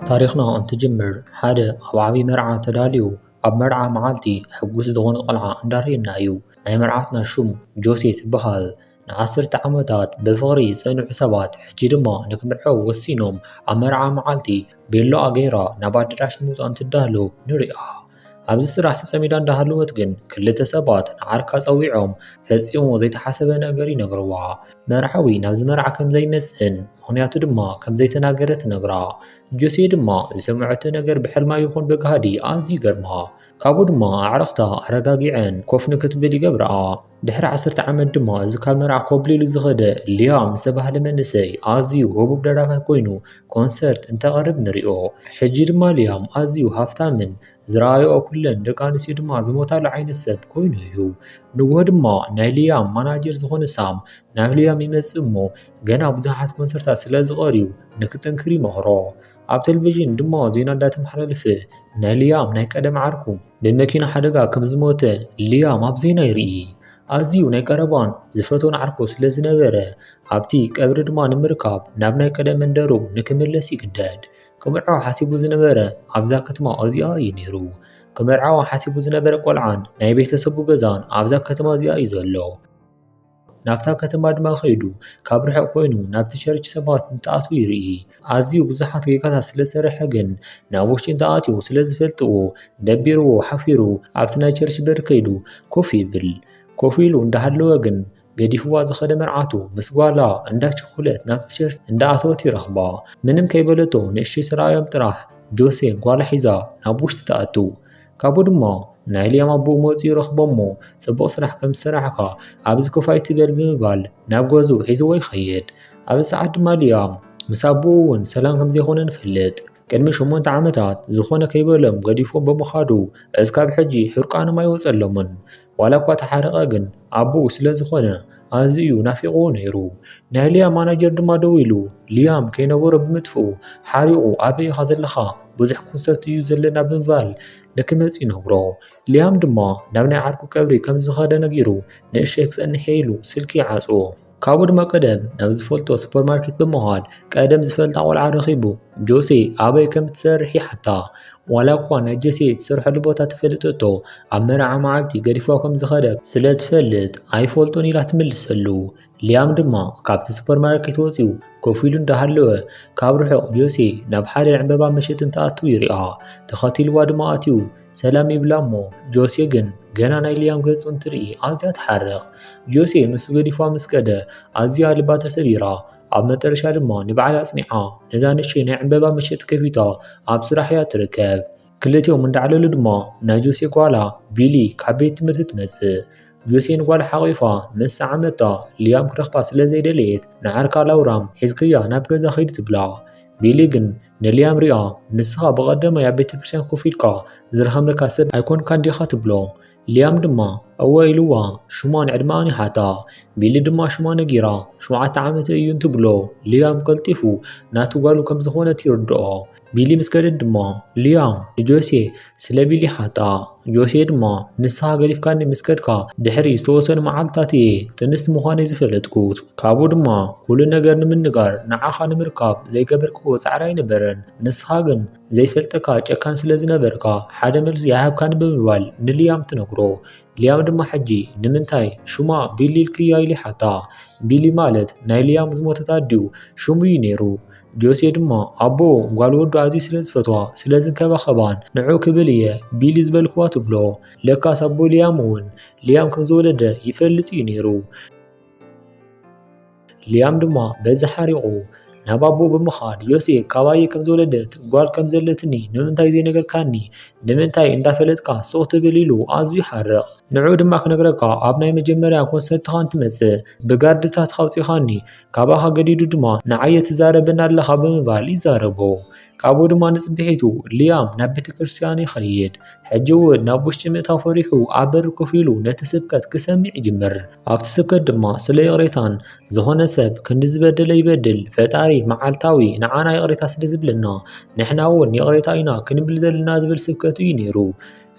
ታሪኽና እንትጅምር ሓደ ኣብ ዓብዪ መርዓ ተዳልዩ ኣብ መርዓ መዓልቲ ሕጉስ ዝኾነ ቆልዓ እንዳርየና እዩ። ናይ መርዓትና ሹም ጆሴ ትበሃል። ንዓሰርተ ዓመታት ብፍቕሪ ዝፀንሑ ሰባት ሕጂ ድማ ንክምርዐው ወሲኖም ኣብ መርዓ መዓልቲ ቤሎኣ ገይራ ናብ ኣደራሽ ንምውፃእ እንትዳለው ንሪኣ። ኣብዚ ስራሕ ተጸሚዳ እንዳሃለወት ግን ክልተ ሰባት ንዓርካ ጸዊዖም ፈጺሙ ዘይተሓሰበ ነገር ይነግርዋ። መርዓዊ ናብዚ መርዓ ከም ዘይመጽእን ምኽንያቱ ድማ ከም ዘይተናገረ ትነግራ። ጆሴ ድማ ዝሰምዐቶ ነገር ብሕልማ ይኹን ብጋህዲ ኣዝዩ ይገርማ። ካብኡ ድማ ኣዕርኽታ ኣረጋጊዐን ኮፍ ንክትብል ይገብርኣ። ድሕሪ ዓሰርተ ዓመት ድማ እዚ ካብ መርዓ ኮብሊሉ ዝኸደ ሊያም ዝተባህለ መንእሰይ ኣዝዩ ህቡብ ደራፋይ ኮይኑ ኮንሰርት እንተቕርብ ንሪኦ። ሕጂ ድማ ሊያም ኣዝዩ ሃፍታምን ዝረኣይኦ ኩለን ደቂ ኣንስትዮ ድማ ዝሞታሉ ዓይነት ሰብ ኮይኑ እዩ። ንግሆ ድማ ናይ ሊያም ማናጀር ዝኾነ ሳም ናብ ሊያም ይመጽእ እሞ ገና ብዙሓት ኮንሰርታት ስለ ዝቐርዩ ንክጥንክር ይመኽሮ። ኣብ ቴሌቪዥን ድማ ዜና እንዳተመሓላለፈ ናይ ሊያም ናይ ቀደም ዓርኩ ብመኪና ሓደጋ ከም ዝሞተ ሊያም ኣብ ዜና ይርኢ። ኣዝዩ ናይ ቀረባን ዝፈትዎን ዓርኩ ስለ ዝነበረ ኣብቲ ቀብሪ ድማ ንምርካብ ናብ ናይ ቀደም መንደሩ ንክምለስ ይግደድ። ክምርዖ ሓሲቡ ዝነበረ ኣብዛ ከተማ እዚኣ እዩ ነይሩ። ክምርዓዋ ሓሲቡ ዝነበረ ቆልዓን ናይ ቤተሰቡ ገዛን ኣብዛ ከተማ እዚኣ እዩ ዘሎ። ናብታ ከተማ ድማ ኸይዱ ካብ ርሑቕ ኮይኑ ናብቲ ቸርች ሰባት እንትኣትዉ ይርኢ። ኣዝዩ ብዙሓት ጌጋታት ስለ ዝሰርሐ ግን ናብ ውሽጢ እንተኣትዩ ስለ ዝፈልጥዎ ደቢርዎ ሓፊሩ ኣብቲ ናይ ቸርች በሪ ከይዱ ኮፍ ይብል። ኮፍ ኢሉ እንዳሃለወ ግን ገዲፍዋ ዝኸደ መርዓቱ ምስ ጓላ እንዳቸኮለት ናብቲ ቸርች እንዳኣተወት ይረኽባ። ምንም ከይበለቶ ንእሽተይ ተራእዮም ጥራሕ ጆሴ ጓላ ሒዛ ናብ ውሽጢ ትኣቱ። ካብኡ ድማ ናይ ሊያም ኣቦኡ መፂኡ ይረኽቦም'ሞ ፅቡቕ ስራሕ ከምዝሰራሕኻ ኣብዚ ኮፍ ኣይትበል ብምባል ናብ ገዝኡ ሒዝዎ ይኸይድ። ኣብዚ ሰዓት ድማ ሊያም ምስ ኣቦኡ እውን ሰላም ከምዘይኮነ ንፈልጥ። ቅድሚ ሸሞንተ ዓመታት ዝኾነ ከይበሎም ገዲፎም ብምኻዱ እስካብ ሕጂ ሕርቃኖም ኣይወፀሎምን። ዋላ እኳ ተሓረቐ ግን ኣቦኡ ስለ ዝኾነ ኣዝዩ ናፊቕዎ ነይሩ። ናይ ሊያም ማናጀር ድማ ደዊሉ ሊያም ከይነበሮ ብምጥፍኡ ሓሪቑ ኣበይ ኢኻ ዘለኻ ብዙሕ ኮንሰርት እዩ ዘለና ብምባል ንክመጽእ ይነግሮ። ሊያም ድማ ናብ ናይ ዓርኩ ቀብሪ ከም ዝኸደ ነጊሩ ንእሽተይ ክጸንሕ እየ ኢሉ ስልኪ ይዓጽዎ። ካብኡ ድማ ቀደም ናብ ዝፈልጦ ሱፐርማርኬት ብምኻድ ቀደም ዝፈልጣ ቆልዓ ረኺቡ ጆሴ ኣበይ ከም እትሰርሕ ይሓታ። ዋላ እኳ ናይ ጆሴ እትሰርሐሉ ቦታ ተፈለጠቶ ኣብ መርዓ መዓልቲ ገዲፋ ከም ዝኸደ ስለ እትፈልጥ ኣይፈልጦን ኢላ ትምልሰሉ። ሊያም ድማ ካብቲ ሱፐርማርኬት ወጺኡ ኮፍ ኢሉ እንዳሃለወ ካብ ርሑቕ ጆሴ ናብ ሓደ ዕንበባ መሸጢ እንትኣትው ይሪኣ። ተኸቲልዋ ድማ ኣትዩ ሰላም ይብላ እሞ ጆሴ ግን ገና ናይ ሊያም ገጹ እንትርኢ ኣዝያ ትሓርቕ። ጆሴ ንሱ ገዲፍዋ ምስ ከደ ኣዝያ ልባ ተሰቢራ። ኣብ መጠረሻ ድማ ንበዓል ኣጽኒዓ ነዛ ንእሽቶይ ናይ ዕምበባ መሸጢ ከፊታ ኣብ ስራሕ እያ ትርከብ። ክልቲኦም እንዳዕለሉ ድማ ናይ ጆሴ ጓላ ቢሊ ካብ ቤት ትምህርቲ ትመጽእ። ጆሴ ንጓላ ሓቚፋ ምስ ሰዓመታ ሊያም ክረኽባ ስለ ዘይደለየት ንዓርካ ላውራም ሒዝክያ ናብ ገዛ ኺድ ትብላ። ቢሊ ግን ንልያም ሪኣ ንስኻ ብቐዳማይ ኣብ ቤተ ክርስቲያን ኮፍ ኢልካ ዝረኸምለካ ሰብ ኣይኮንካን ዲኻ ትብሎ። ልያም ድማ እወ ኢልዋ ሽማን ዕድመኣን ይሓታ። ቢሊ ድማ ሽማ ነጊራ ሸውዓተ ዓመተ እዩ እንትብሎ ልያም ቀልጢፉ ናቱ ጓሉ ከም ዝኾነት ይርድኦ። ቢሊ ምስ ከደት ድማ ልያም ንጆሴ ስለ ቢሊሓታ ጆሴ ድማ ንስሃ ገዲፍካኒ ምስ ከድካ ድሕሪ ዝተወሰኑ መዓልትታት እየ ጥንስቲ ምዃነይ ዝፈለጥኩ። ካብኡ ድማ ኵሉ ነገር ንምንጋር ንዓኻ ንምርካብ ዘይገበርክዎ ጻዕሪ ኣይነበረን። ንስኻ ግን ዘይፈልጠካ ጨካን ስለ ዝነበርካ ሓደ መልሲ ኣይሃብካንን ብምባል ንልያም ትነግሮ። ሊያም ድማ ሕጂ ንምንታይ ሹማ ቢሊ ኢልክያ ኢሉ ይሓታ። ቢሊ ማለት ናይ ሊያም ዝሞተት ኣዲኡ ሹም እዩ ነይሩ። ጆሴ ድማ ኣቦኡ ጓል ወዱ ኣዝዩ ስለ ዝፈትዋ ስለ ዝንከባኸባን ንዑ ክብል እየ ቢሊ ዝበልክዋ ትብሎ። ለካስ ኣቦ ሊያም እውን ሊያም ከም ዝወለደ ይፈልጥ እዩ ነይሩ። ሊያም ድማ በዚ ሓሪቑ ናብ ኣቦኡ ብምኻድ ዮሴ ካባየ ከም ዝወለደት ጓል ከም ዘለትኒ ንምንታይ ዘይነገርካኒ ንምንታይ እንዳፈለጥካ ሱቕ ትብል ኢሉ ኣዝዩ ይሓርቕ ንዕኡ ድማ ክነግረካ ኣብ ናይ መጀመርያ ኮንሰርትኻ እንትመጽእ ብጋርድታት ካውጺኻኒ ካባኻ ገዲዱ ድማ ንዓየ ትዛረበኒ ኣለኻ ብምባል ይዛረቦ ካብኡ ድማ ንጽብሒቱ ሊያም ናብ ቤተ ክርስቲያን ይኸይድ። ሕጂ እውን ናብ ውሽጢ ምእታው ፈሪሑ ኣብ በሪ ኮፍ ኢሉ ነቲ ስብከት ክሰምዕ ይጅምር። ኣብቲ ስብከት ድማ ስለ ይቕሬታን ዝኾነ ሰብ ክንዲ ዝበደለ ይበድል ፈጣሪ መዓልታዊ ንዓና ይቕሬታ ስለ ዝብለና ንሕና እውን ይቕሬታ ኢና ክንብል ዘለና ዝብል ስብከት እዩ ነይሩ።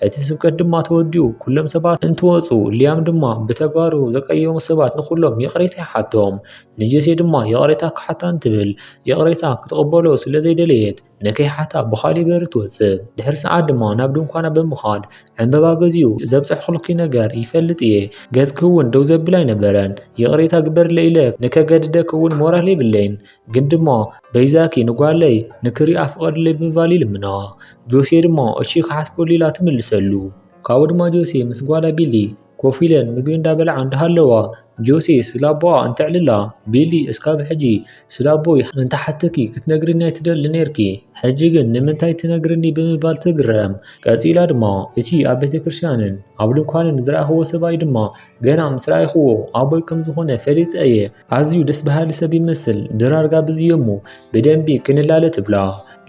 እቲ ስብከት ድማ ተወዲኡ ኩሎም ሰባት እንትወፁ ሊያም ድማ ብተግባሩ ዘቀየሙ ሰባት ንኩሎም ይቕሬታ ይሓቶም። ንጆሴ ድማ ይቕሬታ ክሓታ እንትብል ይቕሬታ ክትቕበሎ ስለ ዘይደለየት ንከይሓታ ብኻልእ በሪ ትወፅእ። ድሕሪ ሰዓት ድማ ናብ ድንኳና ብምኻድ ዕንበባ ገዚኡ ዘብፀሕኹልኪ ነገር ይፈልጥ እየ ገፅኪ እውን ደው ዘብል ኣይነበረን ይቕሬታ ግበርለይ ኢለ ንከገድደኪ እውን ሞራል የብለይን ግን ድሞ በይዛኪ ንጓለይ ንክሪኣ ፍቐድለይ ብምባል ይልምኖ። ጆሴ ድሞ እሺ ክሓስበሉ ኢላ ትምልሰሉ። ካብኡ ድማ ጆሴ ምስ ጓላ ቢሊ ኮፍ ኢለን ምግቢ እንዳበልዓ እንዳሃለዋ ጆሴ ስለ ኣቦኣ እንተዕልላ ቢሊ እስካብ ሕጂ ስለ ኣቦይ እንተሓተኪ ክትነግርኒ ኣይትደሊ ነይርኪ ሕጂ ግን ንምንታይ ትነግርኒ ብምባል ትግረም። ቀጺላ ድማ እቲ ኣብ ቤተክርስትያንን ኣብ ድንኳንን ዝረኣኹዎ ሰብኣይ ድማ ገና ምስ ረኣይኹዎ ኣቦይ ከም ዝኾነ ፈሊጠ እየ። ኣዝዩ ደስ በሃሊ ሰብ ይመስል ድራር ጋብዝ እየሞ ብደንቢ ክንላለ ትብላ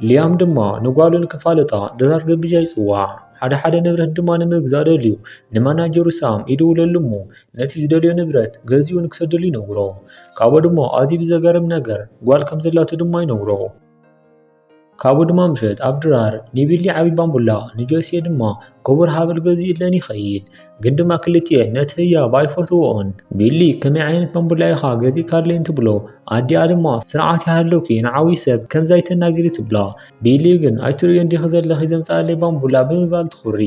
ሊያም ድማ ንጓሉ ንክፋለጣ ድራር ገብዣ ይጽዋዕ ሓደ ሓደ ንብረት ድማ ንምግዛእ ደልዩ ንማናጀሩ ሳም ይድውለሉ እሞ ነቲ ዝደልዮ ንብረት ገዚኡ ንክሰደሉ ይነግሮ ካብኡ ድማ ኣዝዩ ብዘገርም ነገር ጓል ከም ዘላቶ ድማ ይነግሮ ካብኡ ድማ ምሸት ኣብ ድራር ኒቢሊ ዓብዪ ባምቡላ ንጆስየ ድማ ክቡር ሃብል ገዚኡለን ይኸይድ። ግን ድማ ክልቲኤን ነቲ ህያብ ኣይፈትውኦን። ቢሊ ከመይ ዓይነት ባምቡላ ኢኻ ገዚእካለይን ትብሎ። ኣዲኣ ድማ ስርዓት ይሃልውኪ ንዓብዪ ሰብ ከምዚ ኣይተናግሪ ትብላ። ቢሊ ግን ኣይትርእዮን ዲኺ ዘለኺ ዘምጽኣለይ ባምቡላ ብምባል ትኹሪ።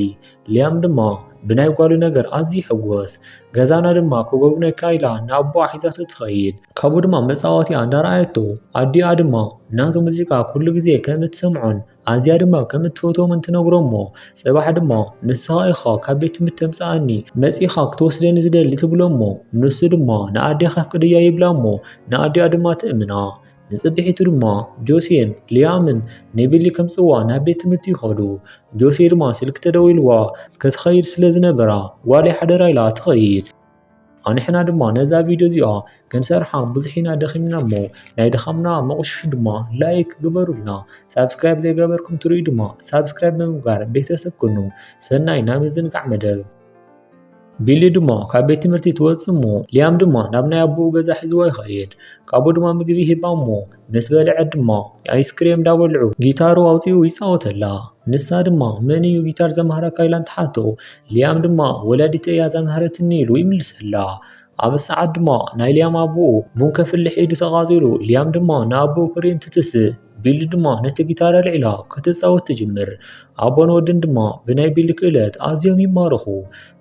ሊያም ድማ ብናይ ጓሉ ነገር ኣዝዩ ይሕጎስ። ገዛና ድማ ክጎብነካ ኢላ ንኣቦኣ ሒዛቶ ትኸይድ። ካብኡ ድማ መጻወቲኣ እንዳርኣየቶ ኣዲኣ ድማ ናቱ ሙዚቃ ኩሉ ግዜ ከም እትሰምዖን ኣዝያ ድማ ከም እትፈትዎምን ትነግሮ'ሞ ጽባሕ ድማ ንስኻ ኢኻ ካብ ቤት ትምህርቲ ተምጽኣኒ መጺኻ ክትወስደኒ ዝደሊ ትብሎ'ሞ ንሱ ድማ ንኣዴኻ ኣፍቅደያ ይብላ'ሞ ንኣዲኣ ድማ ትእምና። ንጽብሒቱ ድማ ጆሲየን ሊያምን ንቢሊ ከምጽዋ ናብ ቤት ትምህርቲ ይኸዱ። ጆሲ ድማ ስልኪ ተደዊልዋ ክትኸይድ ስለ ዝነበራ ጓለይ ሓደራ ኢላ ትኸይድ። ኣንሕና ድማ ነዛ ቪድዮ እዚኣ ክንሰርሓ ብዙሕ ኢና ደኺምና እሞ ናይ ድኻምና መቑሽሹ ድማ ላይክ ግበሩልና። ሳብስክራይብ ዘይገበርኩም ትርእዩ ድማ ሳብስክራይብ ብምግባር ቤተሰብ ኩኑ። ሰናይ ናይ ምዝንጋዕ መደብ። ቢሊ ድማ ካብ ቤት ትምህርቲ ትወፅእ እሞ ሊያም ድማ ናብ ናይ ኣቦኡ ገዛ ሒዝዎ ይኸይድ። ካብኡ ድማ ምግቢ ይህባ እሞ ምስ በልዐት ድማ ኣይስክሬም እንዳበልዑ ጊታሩ ኣውፂኡ ይፃወተላ። ንሳ ድማ መን እዩ ጊታር ዘምሃረካ ኢላ እንትሓቶ ሊያም ድማ ወላዲተይ እያ ዘምሃረትኒ ኢሉ ይምልሰላ። ኣብ ሰዓት ድማ ናይ ሊያም ኣቦኡ ቡን ከፍልሕ ኢዱ ተቛፂሩ ሊያም ድማ ንኣቦኡ ክሪኢ እንትትስእ። ቢሊ ድማ ነቲ ጊታር ኣልዒላ ክትጻወት ትጅምር። ኣቦን ወድን ድማ ብናይ ቢሊ ክእለት ኣዝዮም ይማረኹ።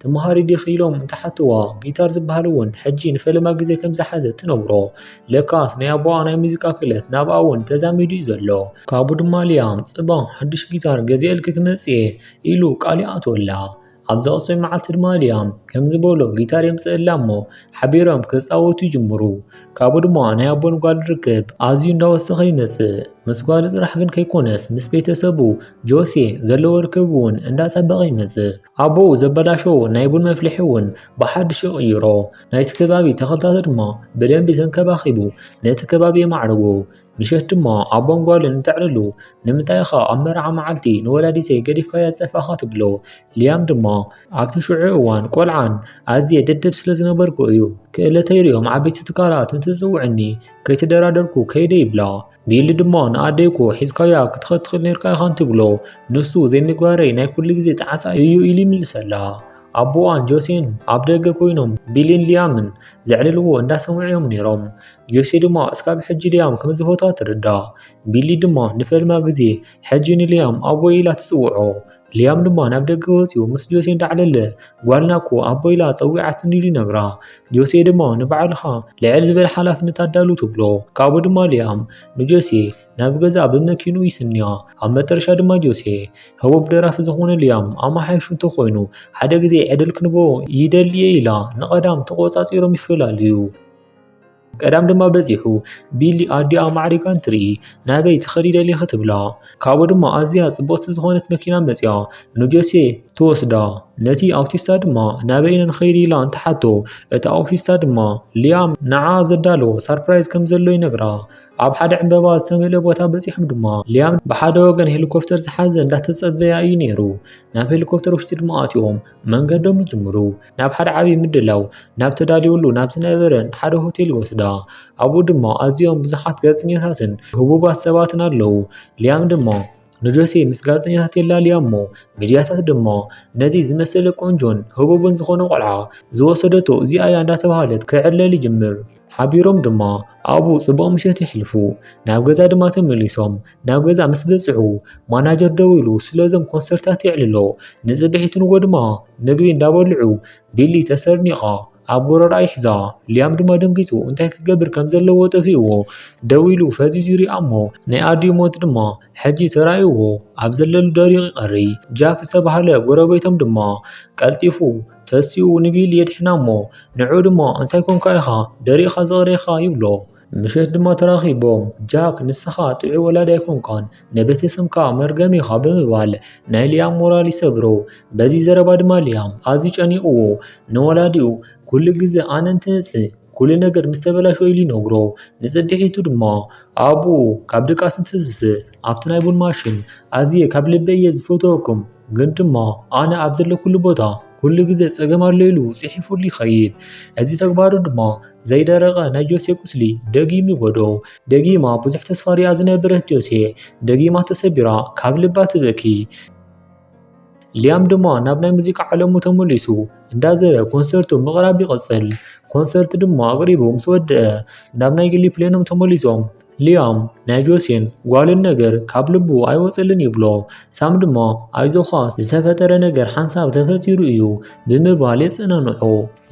ትመሃሪ ዲኺ ኢሎም እንትሓትዋ፣ ጊታር ዝበሃል እውን ሕጂ ንፈለማ ግዜ ከም ዝሓዘት ትነግሮ። ለካስ ናይ ኣቦኣ ናይ ሙዚቃ ክእለት ናብኣ እውን ተዛሚዱ እዩ ዘሎ። ካብኡ ድማ ሊያም፣ ጽባሕ ሓድሽ ጊታር ገዚኤልኪ ክመጽእ እየ፣ ኢሉ ቃል ይኣትወላ። ኣብ ዝቐፅል መዓልቲ ድማ ሊያም ከምዚ በሎ ጊታር የምፅእላ እሞ ሓቢሮም ክፃወቱ ይጅምሩ። ካብኡ ድማ ናይ ኣቦን ጓል ርክብ ኣዝዩ እንዳወሰኸ ይመፅእ። ምስ ጓሉ ጥራሕ ግን ከይኮነስ ምስ ቤተሰቡ ጆሴ ዘለዎ ርክብ እውን እንዳፀበቐ ይመፅእ። ኣቦኡ ዘበላሸዎ ናይ ቡን መፍልሒ እውን ብሓድሽ ይቕይሮ። ናይቲ ከባቢ ተኽልታት ድማ ብደንቢ ተንከባኺቡ ነቲ ከባቢ የማዕርጎ። ምሸት ድማ ኣቦን ጓልን ተዕልሉ። ንምንታይ ኢኻ ኣብ መርዓ መዓልቲ ንወላዲተይ ገዲፍካያ ዝጠፋእካ? ትብሎ። ሊያም ድማ ኣብቲ ሽዑ እዋን ቆልዓን ኣዝየ ደደብ ስለ ዝነበርኩ እዩ። ክእለተይ ርእዮም ዓበይቲ ትካላት እንትጽውዑኒ ከይተደራደርኩ ከይደ ይብላ። ቢሊ ድማ ንኣደይኮ ሒዝካያ ክትኸድ ትኽእል ኔርካ ኢኻ እንትብሎ ንሱ ዘይምግባረይ ናይ ኩሉ ግዜ ጣዕሳ እዩ ኢሉ ይምልሰላ። ኣቦኣን ጆሴን ኣብ ደገ ኮይኖም ቢሊን ሊያምን ዘዕልልዎ እንዳሰምዑ እዮም ኔሮም። ጆሲ ድማ እስካብ ሕጂ ሊያም ከምዝፈትዋ ትርዳእ። ቢሊ ድማ ንፈልማ ግዜ ሕጂ ንሊያም ኣቦይ ኢላ ትጽውዖ። ሊያም ድማ ናብ ደገ ወጺኡ ምስ ጆሴ እንዳዕለለ ጓልና እኮ ኣቦ ኢላ ጸዊዓትኒ ኢሉ ይነግራ። ጆሴ ድማ ንባዕልኻ ልዕል ዝበለ ሓላፍነት ኣዳሉ ትብሎ። ካብኡ ድማ ሊያም ንጆሴ ናብ ገዛ ብመኪኑ ይስንያ። ኣብ መጠረሻ ድማ ጆሴ ህቡብ ደራፊ ዝኾነ ሊያም ኣመሓይሹ እንተኾይኑ ሓደ ግዜ ዕድል ክንቦ ይደሊ እየ ኢላ ንቀዳም ተቖጻጺሮም ይፈላለዩ። ቀዳም ድማ በጺሑ ቢሊ ኣዲኣ ማዕሪጋ እንትርኢ ናበይ ትኸዲ ደሊኺ ትብላ ካብኡ ድማ ኣዝያ ጽብቕቲ ዝኾነት መኪና መጺኣ ንጆሴ ትወስዳ ነቲ ኣውቲስታ ድማ ናበይ ኢና ንኸይድ ኢላ እንትሓቶ እቲ ኣውቲስታ ድማ ሊያም ንዓ ዘዳሎ ሳርፕራይዝ ከም ዘሎ ይነግራ ኣብ ሓደ ዕምበባ ዝተመልአ ቦታ በጺሖም ድማ ሊያም ብሓደ ወገን ሄሊኮፕተር ዝሓዘ እንዳተጸበያ እዩ ነይሩ ናብ ሄሊኮፕተር ውሽጢ ድማ ኣትዮም መንገዶም ይጅምሩ ናብ ሓደ ዓብዪ ምድላው ናብ ተዳልወሉ ናብ ዝነበረ ሓደ ሆቴል ይወስዳ። ኣብኡ ድማ ኣዝዮም ብዙሓት ጋዜጠኛታትን ህቡባት ሰባትን ኣለዉ። ሊያም ድማ ንጆሴ ምስ ጋዜጠኛታት የላልያ እሞ ሚድያታት ድማ ነዚ ዝመሰለ ቆንጆን ህቡብን ዝኾነ ቆልዓ ዝወሰደቶ እዚኣ እያ እንዳተባህለት ክዕለል ይጅምር። ሓቢሮም ድማ ኣብኡ ጽቡቕ ምሸት የሕልፉ። ናብ ገዛ ድማ ተመሊሶም ናብ ገዛ ምስ በጽሑ ማናጀር ደው ኢሉ ስለዞም ኮንሰርታት የዕልሎ። ንጽብሒቱ ንጎ ድማ ምግቢ እንዳበልዑ ቢሊ ተሰርኒቓ ኣብ ጎረርኣ ይሕዛ። ሊያም ድማ ደንጊጹ እንታይ ክገብር ከም ዘለዎ ጠፊእዎ ደው ኢሉ ፈዚዙ ይሪኣ እሞ ናይ ኣዲኡ ሞት ድማ ሕጂ ተራእይዎ ኣብ ዘለሉ ደሪቑ ይቐሪ። ጃክ ዝተባህለ ጎረቤቶም ድማ ቀልጢፉ ተሲኡ ንቢል የድሕና እሞ፣ ንዕኡ ድማ እንታይ ኰንካ ኢኻ ደሪቕካ ዝቕረኻ? ይብሎ። ምሸት ድማ ተራኺቦም፣ ጃክ ንስኻ ጥዑይ ወላዲ ኣይኰንካን፣ ንቤተ ሰብካ መርገም ኢኻ ብምባል ናይ ሊያም ሞራል ይሰብሮ። በዚ ዘረባ ድማ ሊያም ኣዝዩ ጨኒቕዎ፣ ንወላዲኡ ኵሉ ግዜ ኣነ እንትመጽእ ኵሉ ነገር ምስ ተበላሸወ ኢሉ ይነግሮ። ንጽብሒቱ ድማ ኣቡኡ ካብ ድቃስ እንትትንስእ ኣብቲ ናይ ቡን ማሽን፣ ኣዝየ ካብ ልበይ እየ ዝፈትወኩም፣ ግን ድማ ኣነ ኣብ ዘለኩሉ ቦታ ኵሉ ግዜ ጸገም ኣሎ ኢሉ ጽሒፉሉ ይኸይድ። እዚ ተግባሩ ድማ ዘይደረቐ ናይ ጆሴ ቍስሊ ደጊሙ ይጐድኦ። ደጊማ ብዙሕ ተስፋ ርእያ ዝነበረት ጆሴ፣ ደጊማ ተሰቢራ ካብ ልባ ትበኪ። ሊያም ድማ ናብ ናይ ሙዚቃ ዓለሙ ተመሊሱ እንዳዘረ ኮንሰርቱ ምቕራብ ይቕፅል። ኮንሰርት ድማ ኣቕሪቡ ምስ ወድአ ናብ ናይ ግሊ ፕሌኖም ተመሊሶም ሊያም ናይ ጆሴን ጓልን ነገር ካብ ልቡ ኣይወፀልን ይብሎ። ሳም ድማ ኣይዞኻ ዝተፈጠረ ነገር ሓንሳብ ተፈጢሩ እዩ ብምባል የፀናንዖ።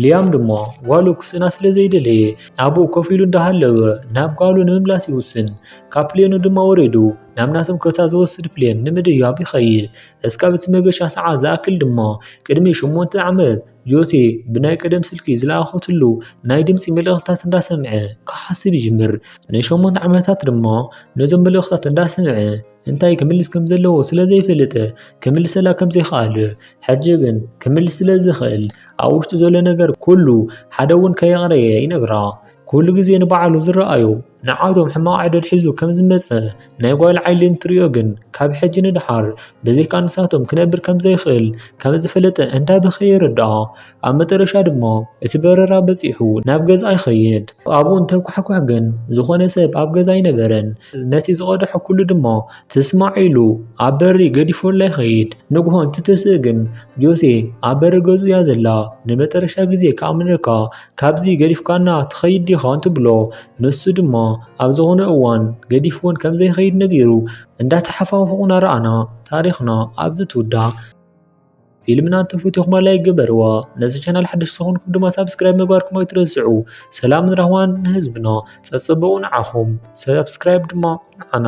ሊያም ድማ ጓሉ ክስእና ስለ ዘይደለየ ኣብኡ ኮፍ ኢሉ እንዳሃለወ ናብ ጓሉ ንምምላስ ይውስን። ካብ ፕሌኑ ድማ ወሪዱ ናብ ናቶም ከታ ዝወስድ ፕሌን ንምድያብ ይኸይድ። እስካብ እቲ መገሻ ሰዓት ዝኣክል ድማ ቅድሚ ሸሞንተ ዓመት ጆሴ ብናይ ቀደም ስልኪ ዝለኣኸትሉ ናይ ድምፂ መልእኽትታት እንዳሰምዐ ክሓስብ ይጅምር። ንሸሞንተ ዓመታት ድማ ነዞም መልእኽትታት እንዳሰምዐ እንታይ ክምልስ ከም ዘለዎ ስለ ዘይፈልጥ ክምልሰላ ከም ዘይክኣል ሕጂ ግን ክምልስ ስለ ዝኽእል ኣብ ውሽጡ ዘሎ ነገር ኩሉ ሓደ እውን ከየቕረየ ይነግራ። ኩሉ ግዜ ንባዕሉ ዝረኣዮ ንዓዶም ሕማቕ ዕድል ሒዙ ከም ዝመጸ ናይ ጓል ዓይሊ እንትርእዮ ግን ካብ ሕጂ ንድሓር ብዘይካ ንሳቶም ክነብር ከም ዘይክእል ከም ዝፈለጠ እንዳበኸየ ይርድኣ። ኣብ መጠረሻ ድማ እቲ በረራ በጺሑ ናብ ገዝኣ ይኸይድ። ኣብኡ እንተኳሕኩሕ ግን ዝኾነ ሰብ ኣብ ገዛ ኣይነበረን። ነቲ ዝቐድሖ ኩሉ ድማ ትስማዕ ኢሉ ኣብ በሪ ገዲፎላ ይኸይድ። ንግሆ እንትትስእ ግን ጆሴ ኣብ በሪ ገዝኡ እያ ዘላ። ንመጠረሻ ግዜ ክኣምነካ ካብዚ ገዲፍካና ትኸይድ ዲኻ እንትብሎ ንሱ ድማ ኣብ ዝኾነ እዋን ገዲፍወን ከም ዘይኸይድ ነጊሩ እንዳተሓፋፉቑ ናረኣና ታሪኽና ኣብዚ ትውዳእ። ፊልምና እንተፈቲኹማ ላይክ ግበርዋ ነዚ ቻናል ሓደሽቲ ዝኾንኩም ድማ ሳብስክራይብ ምግባርኩም ኣይትረስዑ ሰላምን ራህዋን ንህዝብና ጸጽብቑ ንዓኹም ሳብስክራይብ ድማ ንዓና